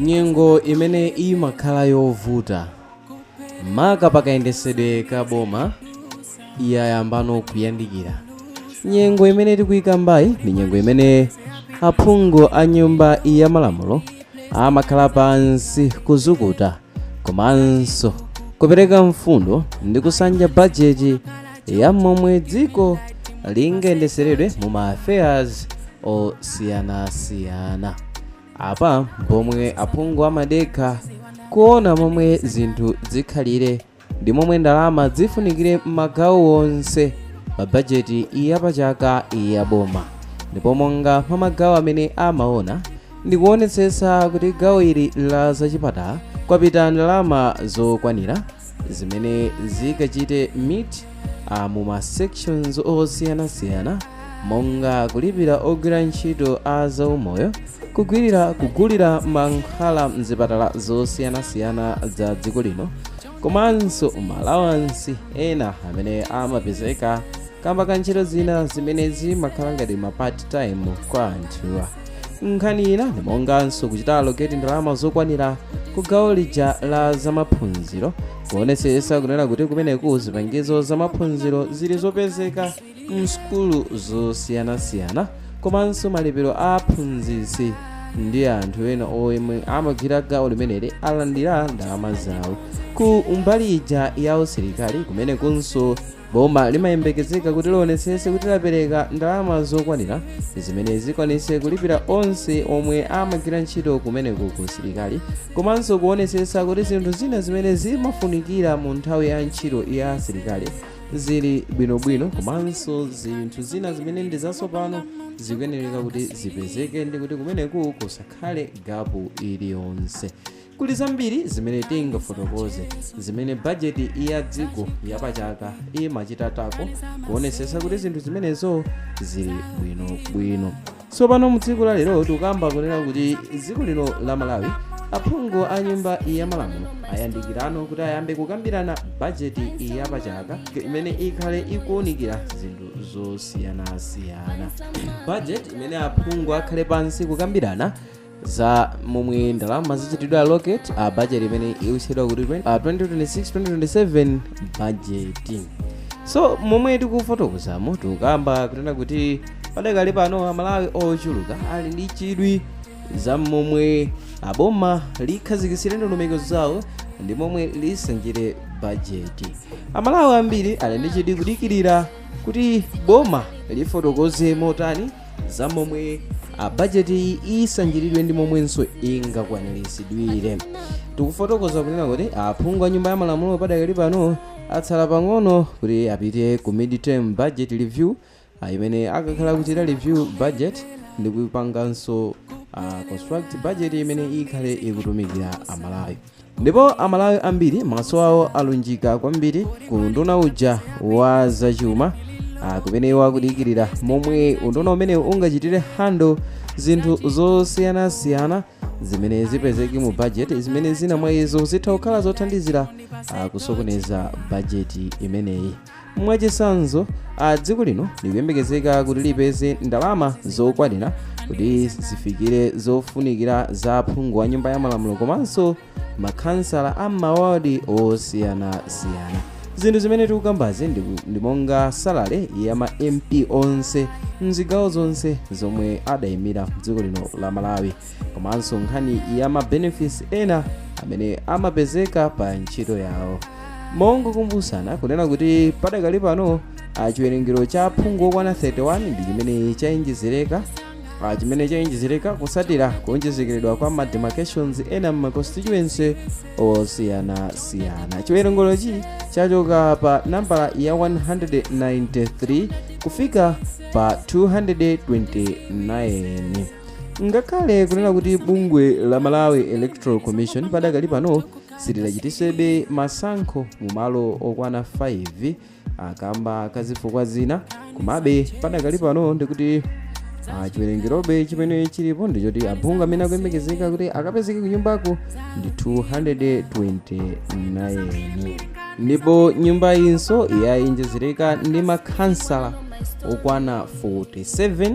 Nyengo imene imakhala yovuta maka pakayendetsedwe ka boma yayambano kuyandikira. Nyengo imene tikuikambayi ndi nyengo imene aphungu a nyumba ya malamulo amakhala pansi kuzukuta komanso kupereka mfundo ndi kusanja bajeti ya momwe dziko lingayendetseredwe mu ma affairs osiyanasiyana. Apa pomwe aphungu amadekha kuona momwe zinthu zikhalire ndi momwe ndalama zifunikire m'magawo onse pa bajeti ya pachaka ya boma ndipo monga mwa magawo amene amaona ndi kuonetsetsa kuti gawo ili la zachipatala kwapita ndalama zokwanira zimene zikachite meet uh, mu ma sections osiyanasiyana monga kulipira ogwira ntchito a zaumoyo kugwirira kugulira mankhwala mzipatala zosiyanasiyana za dziko lino komanso ma allowance ena amene amapezeka kamba ka ntchito zina zimene zimakhala ngati ma part time kwa anthuwa nkhani ina ndi monganso kuchita allocate ndalama zokwanira ku gawo lija la zamaphunziro kuonetsetsa kunena kuti kumeneku zipangizo zamaphunziro zili zopezeka msukulu zosiyanasiyana komanso malipiro a aphunzitsi ndi anthu ena omwe amagwira gawo limeneli alandira ndalama zawo ku mbali ija ya usilikali kumenekunso boma limayembekezeka kuti lionetsetse kuti lapereka ndalama zokwanira zimene zikwanitse kulipira onse omwe amagwira ntchito kumeneku ku usilikali komanso kuonetsetsa kuti zinthu zina zimene zimafunikira mu nthawi ya ntchito ya asilikali zili bwinobwino komanso zinthu zina zimene ndi zatsopano zikuyenereka kuti zipezeke ndi kuti kumeneku kusakhale gapu iliyonse Kuli zambiri zimene tingafotokoze zimene bajeti ya dziko yapachaka imachita tackle kuonesesa kuti zinthu zimenezo zili bwinobwino tsopano mu tsiku la lero tikukamba kunena kuti dziko lino la Malawi aphungu a nyumba ya malamulo ayandikirano kuti ayambe kukambirana bajeti yapachaka imene ikhale ikuunikira zinthu zosiyanasiyana bajeti imene aphungu akhale pansi kukambirana za momwe ndalama zichitidwe allocate a budget imene ikutchedwa kuti 20 a 2026-2027 budget so momwe tikufotokozamo tikukamba kunena kuti padakali pano Amalawi ochuluka ali ndi chidwi za momwe aboma likhazikitsire ndondomeko zawo ndi momwe lisanjire bajeti Amalawi ambiri ali ndi chidwi kudikirira kuti boma lifotokoze motani za momwe bajetiyi isanjiridwe ndi momwenso ingakwaniritsidwire tikufotokoza kunena kuti aphungu a nyumba ya malamulo padakali pano atsala pang'ono kuti apite ku midterm budget review ah, imene akakhale akuchita review budget ndi kupanganso ah, construct budget imene ikhale ikutumikira amalawi ndipo amalawi ambiri maso awo alunjika kwambiri ku unduna uja wa zachuma ah, kumene iwo akudikirira momwe unduna umenewu ungachitire handle zinthu zosiyanasiyana zimene zipezeke mu bajeti zimene zina mwa izo zitha kukhala zothandizira ah, kusokoneza bajeti imeneyi mwachitsanzo a dziko lino likuyembekezeka kuti lipeze ndalama zokwanira kuti zifikire zofunikira za phungu wa nyumba ya malamulo komanso makhansala a mawadi osiyanasiyana zinthu zimene tikukambazi ndi monga salary ya ma mp onse mzigawo zonse zomwe adayimira dziko lino la malawi komanso nkhani ya ma benefits ena amene amapezeka pa ntchito yawo mongokumbutsana kunena kuti padakali pano ah, chiwerengero cha aphungu okwana 31 ndi chimene chaonjezereka ah, chimene chaonjezereka kutsatira kuonjezekeredwa kwa ma demarcations ena mma constituency osiyanasiyana chiwerengerochi chachoka pa nambala ya 193 kufika pa 229 ngakhale kunena kuti bungwe la malawi electoral commission padakali pano silidachititsebe masankho mu malo okwana 5 kamba ka zifukwa zina komabe padakali pano ndikuti ah, chiwerengerobe chimene chilipo ndichoti aphungu amene akuyembekezeka kuti akapezeke kunyumbako ndi 229 ndipo nyumbayinso yaonjezereka ndi makhansala okwana 47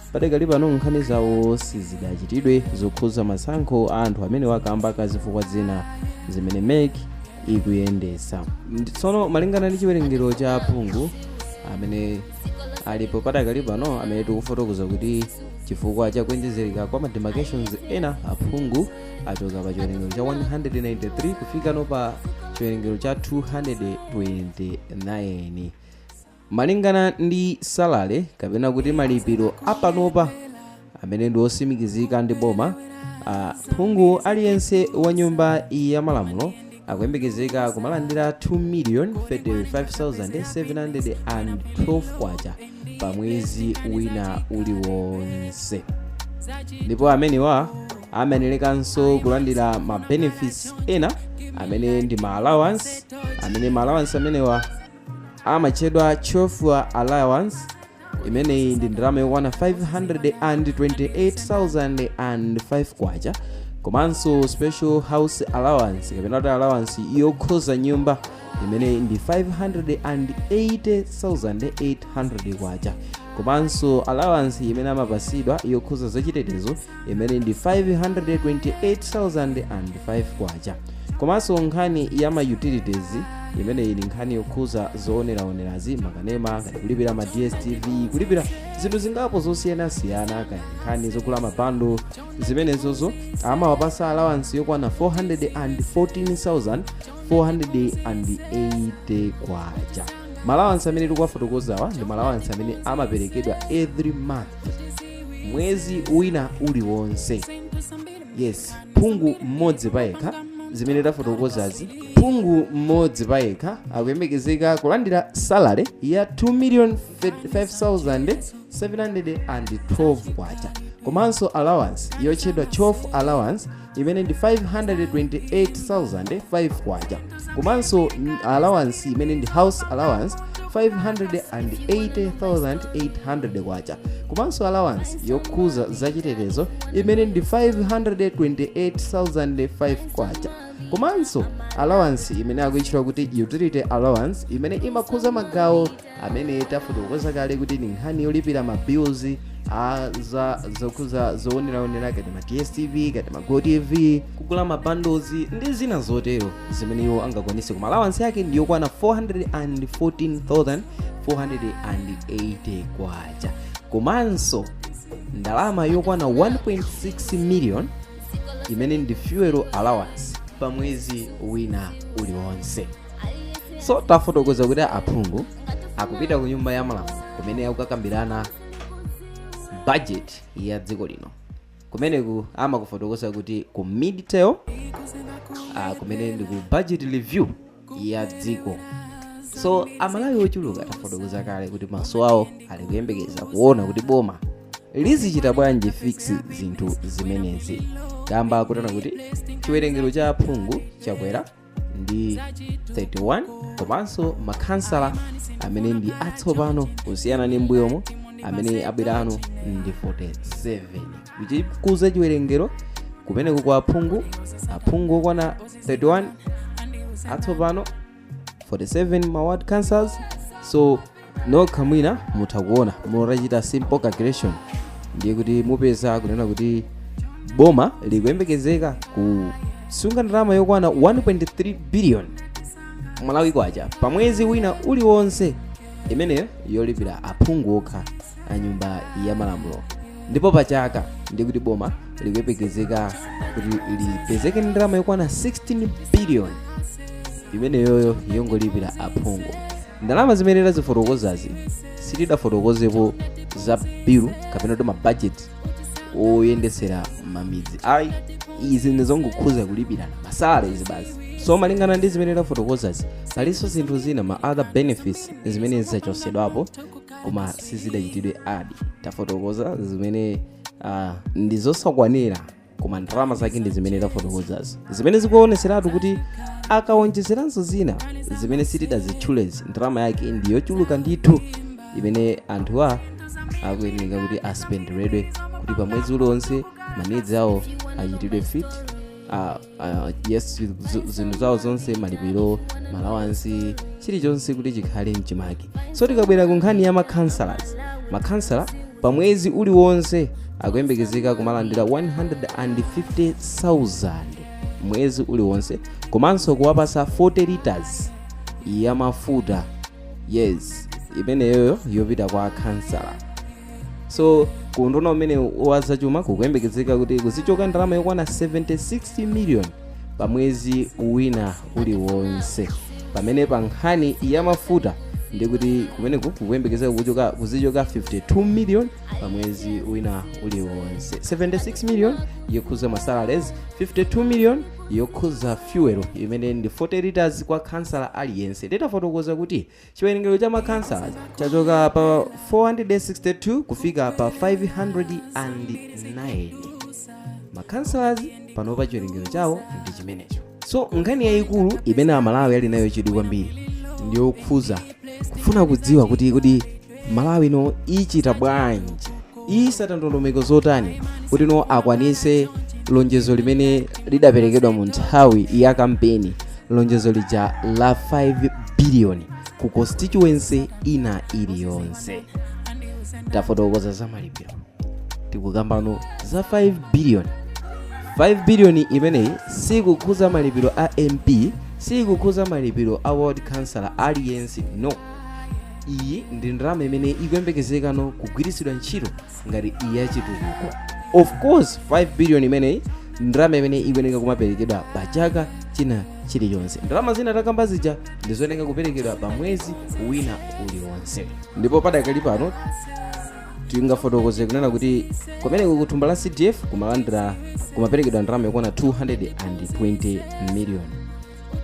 padakali pano nkhani zawo sizidachitidwe zokhudza masankho a anthu amenewa kamba ka zifukwa zina zimene mec ikuyendetsa tsono malingana ndi chiwerengero cha aphungu amene alipo padakali pano amene tikufotokoza kuti chifukwa cha kuonjezereka kwa mademarcations ena aphungu achoka pa chiwerengero cha 193 kufikano pa chiwerengero cha 229 Malingana ndi salary kapena kuti malipiro a panopa amene ndi otsimikizika ndi boma, phungu aliyense wa nyumba ya malamulo akuyembekezeka kumalandira 2,035,712 kwacha pa mwezi wina uliwonse ndipo amenewa amayenerekanso kulandira ma benefits ena amene ndi ma allowance amene ma allowance amenewa amatchedwa chauffeur allowance imeneyi ndi ndalama yokwana 528,005 kwacha komanso special house allowance kapena kuti allowance yokhudza nyumba imene ndi 580,800 kwacha komanso allowance imene amapatsidwa yokhudza zachitetezo imene ndi 528,005 kwacha komanso nkhani ya ma utilities imene ili nkhani yokhudza zooneraonerazi makanema ngati kulipira ma dstv kulipira zinthu zingapo zosiyanasiyana kaya nkhani zogula ma bundle zimenezozo amawapatsa alawansi yokwana 414,480 kwacha ma alawansi amene tikuwafotokozawa ndi ma alawansi amene amaperekedwa every month mwezi wina uliwonse yes phungu mmodzi payekha zimene tafotokozazi phungu mmodzi payekha akuyembekezeka kulandira salary ya 2 million 5712 kwacha komanso allowance yotchedwa chauffeur allowance imene ndi K528,005 komanso allowance imene ndi house allowance K580,800 komanso allowance yokhudza zachitetezo imene ndi K528,005 komanso allowance imene akuitchula kuti utility allowance imene imakhudza magawo amene tafotokoza kale kuti ndi nkhani yolipira ma bills a za zokhudza zooneraonera ngati ma dstv ngati ma gotv kugula ma bundles ndi zina zotero zimene iwo angakwanitse koma allowance yake ndi yokwana 414480 kwacha komanso ndalama yokwana 1.6 million imene ndi fuel allowance pa mwezi wina uliwonse so tafotokoza kuti aphungu akupita ku nyumba ya malamulo kumene akukakambirana budget ya dziko lino kumeneku amafotokoza kuti ku midterm kumene ndi ku budget review ya dziko so amalawi ochuluka tafotokoza kale kuti maso awo ali kuyembekeza kuona kuti boma lizichita bwanji fix zinthu zimenezi kamba kotani kuti chiwerengero cha aphungu chakwera ndi 31 komanso makhansala amene ndi atsopano kusiyana ndi m'mbuyomo amene abwerawo ndi 47 kuchititsa chiwerengero kumeneko kwa aphungu aphungu okwana 31 atsopano 47 ma ward councillors so nokha mwina mutha kuona mutachita simple calculation ndiye kuti mupeza kunena kuti boma likuyembekezeka kusunga ndalama yokwana 1.3 billion Malawi kwacha pa mwezi wina uliwonse imeneyo yolipira aphungu okha a nyumba ya malamulo ndipo pa chaka ndiye kuti boma likuyembekezeka kuti lipezeke ndi ndalama yokwana 16 billion imeneyoyo yongolipira aphungu Ndalama zimene tazifotokozazi sitidafotokozepo za bill kapena kuti mabajeti oyendetsera mamidzi ayi izi ndizongokhuza kulipira masalaries basi so malingana ndi zimene tafotokozazi palinso zinthu zina ma other benefits zimene zachosedwapo koma sizidachitidwe add tafotokoza zimene uh, ndizosakwanira koma ndalama zake ndi zimene tafotokozazi zimene zikuoneseratu kuti akawonjezeranso zina zimene sitidazitchulezi ndalama yake ndi yochuluka ndithu imene anthuwa akuyeneka kuti aspenderedwe kuti pa mwezi uliwonse manidzi awo achitidwe fit ah, ah, yes zu- zinthu zawo zonse malipiro ma allowance chilichonse kuti chikhale mchimake so tikabwera ku nkhani ya makhansalas makhansala pa mwezi uliwonse akuyembekezeka kumalandira 150,000 mwezi uliwonse komanso kuwapasa 40 liters ya mafuta yes imeneyoyo yopita kwa khansala so ku unduna umene wa zachuma kukuyembekezeka kuti kuzichoka ndalama yokwana 76 million pa mwezi wina uliwonse pamene pa nkhani ya mafuta ndikuti kumeneku kukuyembekezeka kuzichoka 52 million pa mwezi wina uliwonse 76 million yokhuza masalaries 52 million yokhuza fuel imene ndi 40 liters kwa khansala aliyense ndidafotokoza kuti chiwerengero cha makhansala chachoka pa 462 kufika pa 509 makhansalazi panopa chiwerengero chawo ndi chimenecho so nkhani yayikulu imene Amalawi ali nayo chidwi kwambiri ndiyokhuza kufuna kudziwa kuti kodi Malawi ino ichita bwanji isata ndondomeko zotani kuti no akwanise lonjezo limene lidaperekedwa mu nthawi ya kampeni lonjezo lija la 5 biliyoni ku constituency ina iliyonse tafotokoza za malipiro tikukambano za 5 billion 5 billion imeneyi sikukhuza malipiro a mp sikukhuza malipiro a ward councillor aliyense no iyi ndi ndalama imene ikuyembekezeka no kugwiritsidwa ntchito ngati ya chitukuko of course 5 billion imeneyi ndalama imene ikuyeneka kumaperekedwa pa chaka china chilichonse ndalama zina takamba zija ndizoyeneka kuperekedwa pa mwezi wina uliwonse ndipo padakali pano tingafotokoze kunena kuti kumeneko ku thumba la cdf kumaperekedwa ndalama yokwana 220 million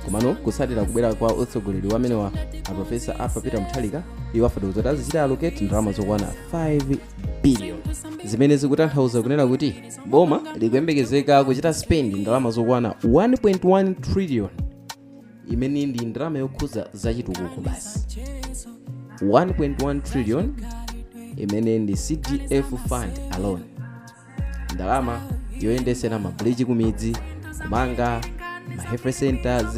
komano kusatira kubwera kwa utsogoleri wamene wa aprofesa arthur peter mutharika iwo afotokoza kuti azichita allocate ndalama zokwana 5 billion zimene zikutanthauza kunena kuti boma likuyembekezeka kuchita spend ndalama zokwana 1.1 trillion imene ndi ndalama yokhuza zachitukuko basi 1.1 trillion imene ndi cdf fund alone ndalama yoyendesera mabridge kumidzi kumanga ma health centers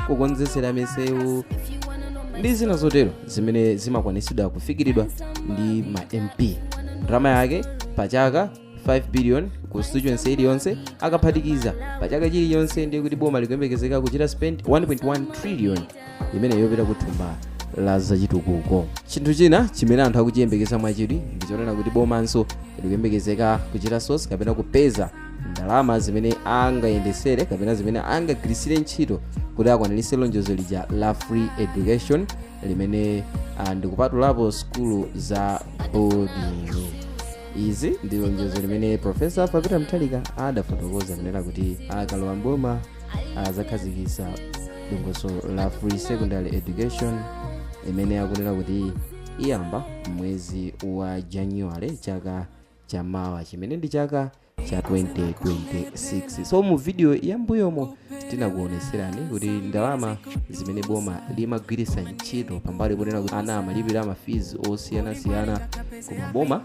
kukonzesera misewu ndi zina zotero zimene zimakwanisidwa kufikiridwa ndi ma mp ndalama yake pachaka 5 billion constituency iliyonse akaphatikiza pa chaka chilichonse ndiye kuti boma likuyembekezeka kuchita spend 1.1 trillion imene yopita ku thumba la zachitukuko chinthu china chimene anthu akuchiyembekeza mwachidwi ndi chonena kuti bomanso likuyembekezeka kuchita source kapena kupeza ndalama zimene angayendesere kapena zimene angagwirisire ntchito kuti akwanirise lonjezo lija la free education limene ndikupatulapo sukulu za boarding izi ndi lonjezo limene profesa arthur peter mutharika adafotokoza kunena kuti akalowa mboma azakhazikisa dongosolo la free secondary education imene akunena kuti iyamba mwezi wa january chaka chamawa chimene ndi chaka cha 2026 so mu video yambuyomo tinakuoneserani kuti ndalama zimene boma limagwiritsa ntchito pambali ponena kuti ana amalipira mafees osiyanasiyana koma boma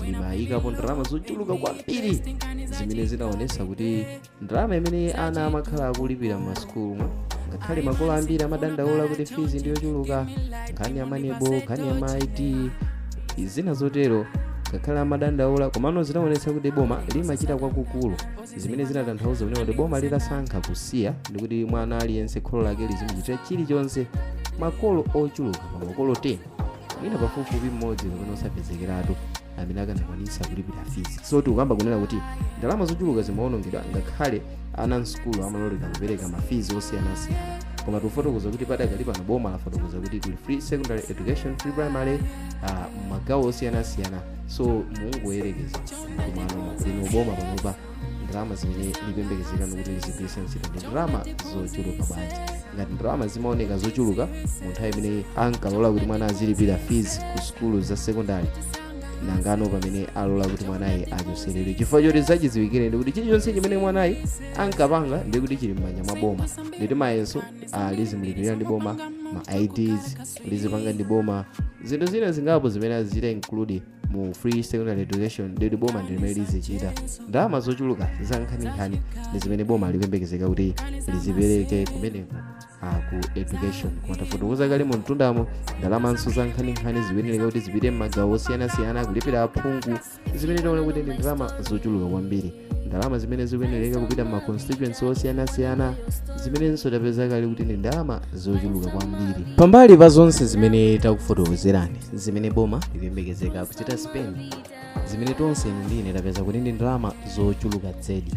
limayikapo ndalama zochuluka kwambiri zimene zinaonesa kuti ndalama imene ana amakhala akulipira m'masukulumu ngakhale makolo ambiri amadandaula kuti fees ndiyochuluka nkhani ya manebo nkhani ya ma id zina zotero ngakhale amadandaula komano zinaonesa kuti boma limachita kwakukulu zimene zinatanthauza kunena kuti boma litasankha kusiya ndi kuti mwana aliyense kholo lake lizimuchitira chilichonse makolo ochuluka pa makolo 10 mwina pafupifupi mmodzi kapena osapezekeratu amene akanakwanisa kulipira fees so tikukamba kunena kuti ndalama zochuluka zimaonongedwa ngakhale ana msukulu amalolera kupereka ma fees osiyanasiyana koma tikufotokoza kuti padakali pano boma lafotokoza kuti kuli free secondary education free primary uh, magawo osiyanasiyana so mungoyerekeza kumeneko inu boma panopa ndalama zimene likuyembekezeka kuti lizigwiritsa ntchito ndi ndalama zochuluka bwanji ngati ndalama zimaoneka zochuluka mu nthawi imene ankalola kuti mwana azilipira fees ku sukulu za sekondari nangano pamene alola kuti mwanayi achoseredwe chifukwa choti zachidziwikire ndi kuti chilichonse chimene mwanayi ankapanga ndi kuti chili m'manja mwa boma nditi mayeso ah, azimulipirira ndi boma ma ids lizipanga ndi boma zinthu zina zingapo zimene azita include mu free secondary education ndikuti boma ndi limene lizichita ndalama zochuluka za nkhaninkhani ndi zimene boma likuyembekezeka kuti lizipereke kumeneko ah, ku education koma tafotokoza kale mu mtundamo ndalamanso za nkhaninkhani zikuyenera kuti zipite m'magawo osiyanasiyana kulipira aphungu zimene taona kuti ndi ndalama zochuluka kwambiri ndalama zimene zikuyenereka kupita m'ma constituency osiyanasiyana zimenenso tapeza kale kuti ndi ndalama zochuluka kwambiri pambali pa zonse zimene takufotokozerani zimene boma likuyembekezeka kuchita spend zimene tonse inu ndi ine tapeza kuti ndi ndalama zochuluka zedi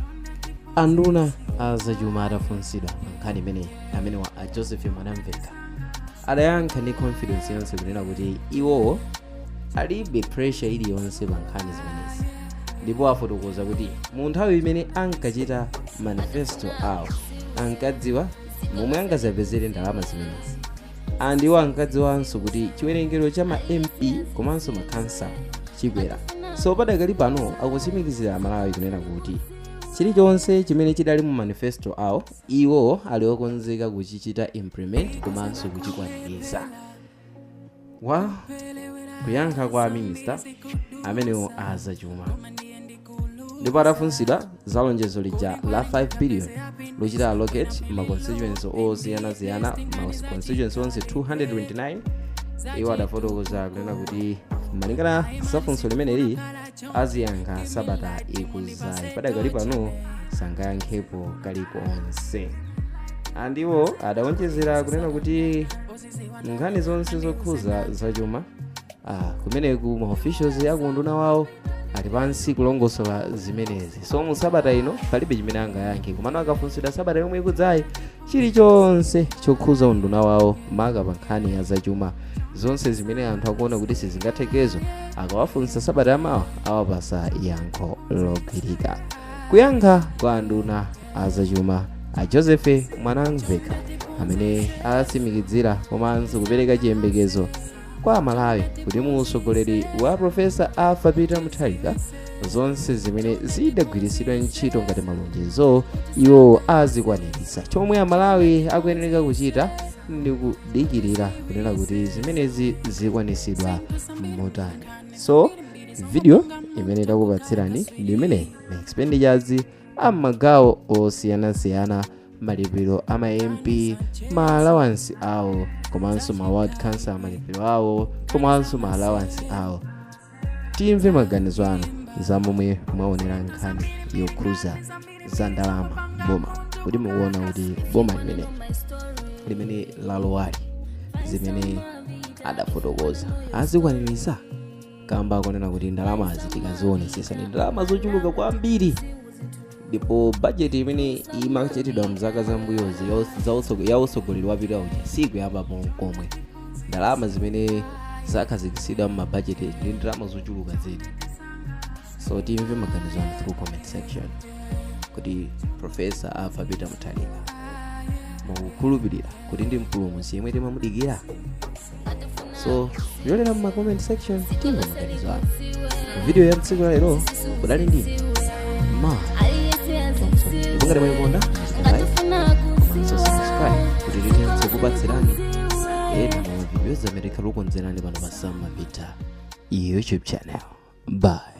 anduna azachuma atafunsidwa nkhani imeneyi amenewa a joseph mwanamveka adayankha ndi confidence yonse kunena kuti iwowo alibe pressure iliyonse pa nkhani zimenezi ndipo afotokoza kuti mu nthawi imene ankachita manifesto awo ankadziwa momwe angazapezere ndalama zimenezi and iwo ankadziwanso kuti chiwerengero cha ma mp komanso makhansala chikwera so padakali pano akutsimikizira amalawi kunena kuti chilichonse chimene chidali mu manifesto awo iwo ali okonzeka kuchichita implement komanso kuchikwaniritsa wa kuyankha kwa minista amenewo azachuma ndipo atafunsidwa za lonjezo lija la 5 billion lochita allocate ma constituency osiyanasiyana ma constituency onse 229 iwo adafotokoza kunena kuti malingana za funso limeneli aziyankha sabata ikuzayi padakali pano sangayankhepo kalikonse and iwo adawonjezera kunena kuti nkhani zonse zokhuza zachuma ah, kumeneku ma officials akunduna wawo ali pansi kulongosola zimenezi so mu sabata ino palibe chimene angayankhe komano akafunsidwa sabata yomwe ikudzayi chilichonse chokhuza unduna wawo maka pa nkhani ya zachuma zonse zimene anthu akuona kuti sizingathekezo akawafunsa sabata yamawa awapasa yankho logwirika kuyankha kwa anduna azachuma a joseph mwanamveka amene atsimikizira komanso kupereka chiyembekezo kwa amalawi kuti mu usogoleri wa profesa arthur peter mutharika zonse zimene zidagwiritsidwa ntchito ngati malonjezo iwo azikwaniritsa chomwe amalawi akuyenereka kuchita ndi kudikirira kunena kuti zimenezi zikwanitsidwa motani so video imene takupatsirani ndi imene ma expenditures a m'magawo osiyanasiyana malipiro a ma mp ma allowance awo komanso ma ward council malipiro awo komanso ma allowance awo timve maganizo anu za momwe mwaonera nkhani yokhuza za ndalama boma kuti mukuona kuti boma limene limene lalowali zimene adafotokoza azikwaniritsa kamba akonena kuti ndalamazi tikazionesesa ndi ndalama zochuluka kwambiri ndipo bajeti imene imachitidwa mzaka zambuyozi ya utsogoleri wapita uja sikuyambapo nkomwe ndalama zimene zakhazikitsidwa mmabajeti ndi ndalama zochuluka zedi so timve maganizo anu through comment section kuti profesa arthur peter mutharika mukukhulupirira kuti ndi mpulumutsi yemwe timamudikira so yolera mu comment section timve maganizo anu video ya mtsiku la lero kudali ndine ma ndipo ngati mwayikonda so subscribe kuti tithenso kupatsirani ena mwa mavidiyo amene tikhale tikukonzerani pano pa sam mapita youtube channel bye